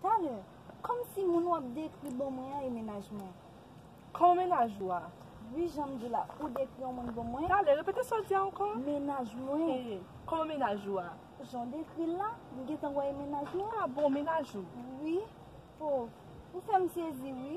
Talè, Kòm si moun w ap dekri bon mwen an e mennaj mwen. Kòm mennaj ou a? Wi, jan m di w la, ou dekri yon moun bon mwen. Talè, Repete sa w di a ankò. Mennaj mwen. Kòm mennaj ou a? Jan w dekri l la, m gentan wè e mennaj mwen. A bon, mennaj ou? Wi. O, ou fè m sezi wi.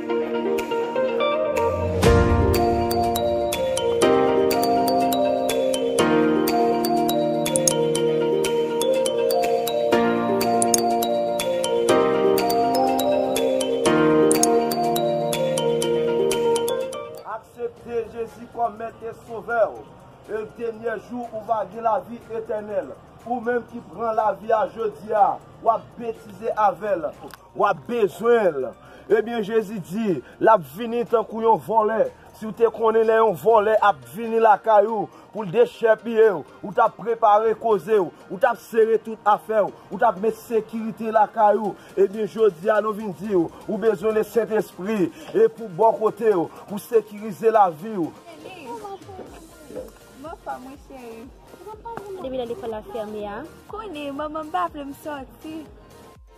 Aksepte Jezi kòm Mèt e Sovè w, e denyè jou ou va gen lavi etènèl. Ou menm ki pran lavi a jodi a, w ap betize avè l. Wap bezwen l. Ebyen Jezi di, lap vini tankou yon vòlè. Si w te konnen lè yon vòlè ap vini lakay ou pou l dechèpiye w, ou t ap prepare koze w, ou t ap sere tout afè w, ou t ap met sekirite lakay ou. Ebyen jodi a nou vin di w, ou bezwen Lesentespri e pou bò kote w, pou sekirize lavi w. Depi lè lekòl la fèmen an. Konnen manman m pa vle m sòti.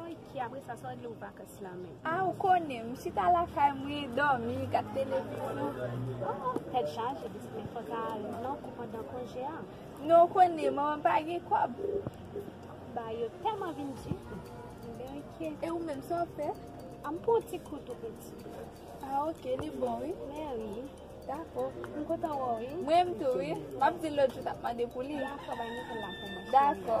Ok apre sa sa w regle pou vakans la menm. Ah ou konnen, m chita lakay mwen, dòmi, gad televizyon. Oh tèt chaje pitit men fò w ta al non pou pandan konje a. Non ou konnen manman m pa gen kòb. Bagay yo tèlman vin di. Bon ok. E ou menm sa w fè? Ah m pran ti kou tou piti. Ah ok li bon wi. Mè wi. Dakò. M kontan wè w wi. Mrenmn tou wi. M ap di l lòt jou ta mande pou li. Dakò bay Nicole la pou mwen. Dakò.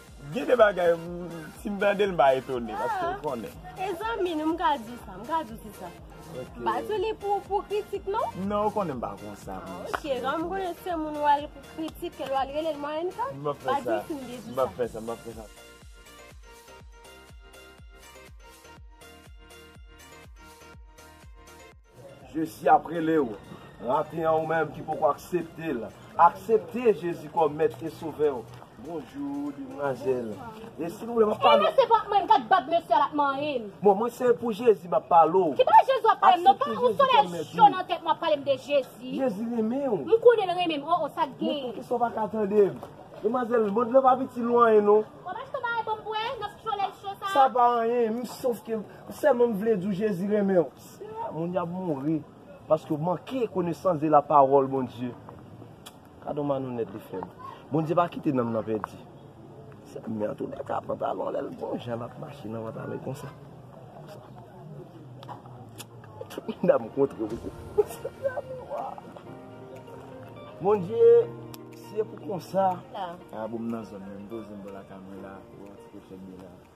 Gen de bagay si m tande l m pa etone paske ou konnen. E zanmi nou m ka di sa, m ka di w se sa. M pa di w li pou pou kritik non. Non ou konnen m pa konsa. Ok, lò m konnen se moun ou al pou kritik l ou al rele l mòrenn sa, m ap fè sa. M ap fè sa, m ap fè sa. Jezi ap rele w. Maten an ou menm ki poko aksepte l, aksepte Jezi kòm mèt e sovè w. Bonjou demwazèl e silvouplè map pale. Ey mesye pa manyen gad bab mesye a lap manyen. Bon mwen se pou jezi map pale w. Kipa jezi wap palem non pa yon solèy cho nan tèt mwen ap palem de jezi. Jezi renmen w. M konnen l renmen m oh oh sak gen. Men poukisa w paka tande m. Demwazèl mond lan pa piti nou anyen non. Bon mach ton bagay pou m bwè nan solèy cho sa. Sa pa anyen m sof ke sèlman m vle di w jezi renmen w. Seyè moun yo ap mouri paske yo manke konesans de la pawòl Bondye gadon malonèt li fèm Bondye pa kite nanm nan pèdi sèm nan antoulèka pantalon lèl bon jan lap mache nan pantalon konsa tout moun ap kontre pou kou Bondye si e pou konsa. Bon m nan zòn menm m poze m bò lakay mwen la pou yon ti kout fèt de la.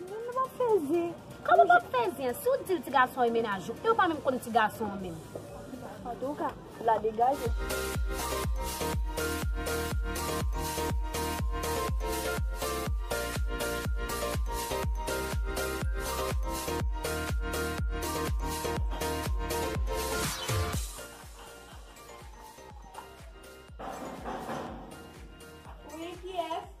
Mwen pa p fè zen. Kòman w pa p fè zen? Si w di l ti gason an e mennaj ou, e w pa menm konn ti gason an menm. Antouka, la degaje. Wi, kiyès?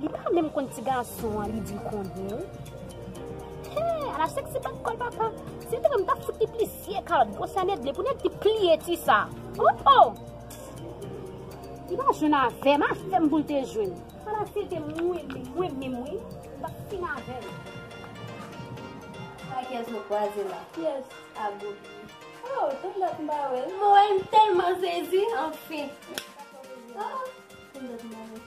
Li pa menm konn ti gason an li di konnen Hee ala sexy bat kòl papa Si m te menm m tap fout li plisyè kalòt gwo sa nèt vle pou nèt li pliye ti sa Ohh oh Li pa jwenn avèm avèm pou l te jwenn Ala si l te mwen menm mwen menm wi m tap fin avèl Sa kiyès nou kwaze la kiyès a Gogi Oh tann dat m pa wèl m wèl m tèlman sezi anfin Tann dat m pa wèl.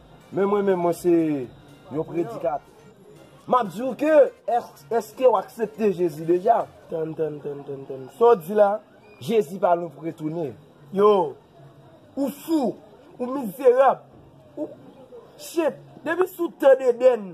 Men mwen menm mwen se yon predikatè. M ap di w ke, èske w aksepte Jezi deja? Tann, tann, tann, tann, tann. Sa w di la? Jezi pa lwen pou retounen. Yo! Ou fou! Ou mizerab! Ou! Shit! Depi sou tè Dedèn,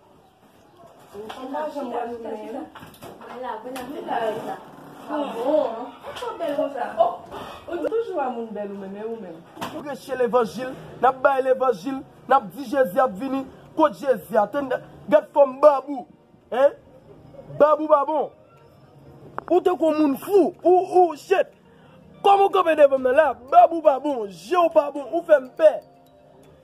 Preche levanjil, nap bay levanjil, nap di Jezi ap vini, kot Jezi a? Tande, gad fòm bab ou, hein? Bab ou pa bon. Ou tankou yon moun fou, ou, ou, shit! Kòman ou kanpe devan m nan la? Bab ou pa bon, je w pa bon, ou fè m pè.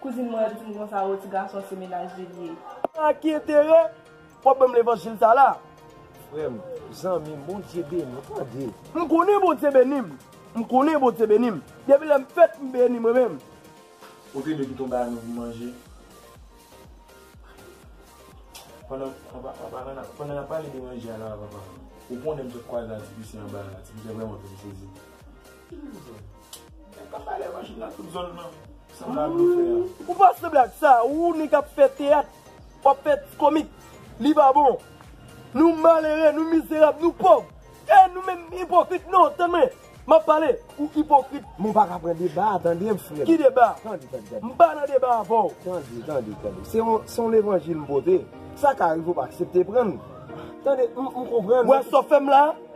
Kouzin mwen di m konsa o ti gason se menaj li li ye. A ki enterè wap banm levanjil sa la. Frem, zanmim bondye beniw tande. M konnen bondye benim. M konnen bondye benim. Depi lè m fèt m beni mwen menm. Kote de piton ba nou manje. Pandan pandan nap pale de manje a nan avan pam. Ou konnen m sot kwaze a ti pise anba a la ti pise vreman fem sezi. Ou pa sanble ak sa, ou nèg kap fè teyat, wap fè ti komik, li pa bon. Nou malere, nou mizerab, nou pòv. E nou menm ipokrit, non, tande mwen, map pale, ou ipokrit. Men ou pa ka pran deba a tande m frè m. Ki deba? Tande, tande, tande. M pa nan deba avè w. Tande, tande, tande. Se yon levanjil m pote, sa ka rive ou pa aksepte pran l. Tande, m konprann. Ou wè sa w fè m la?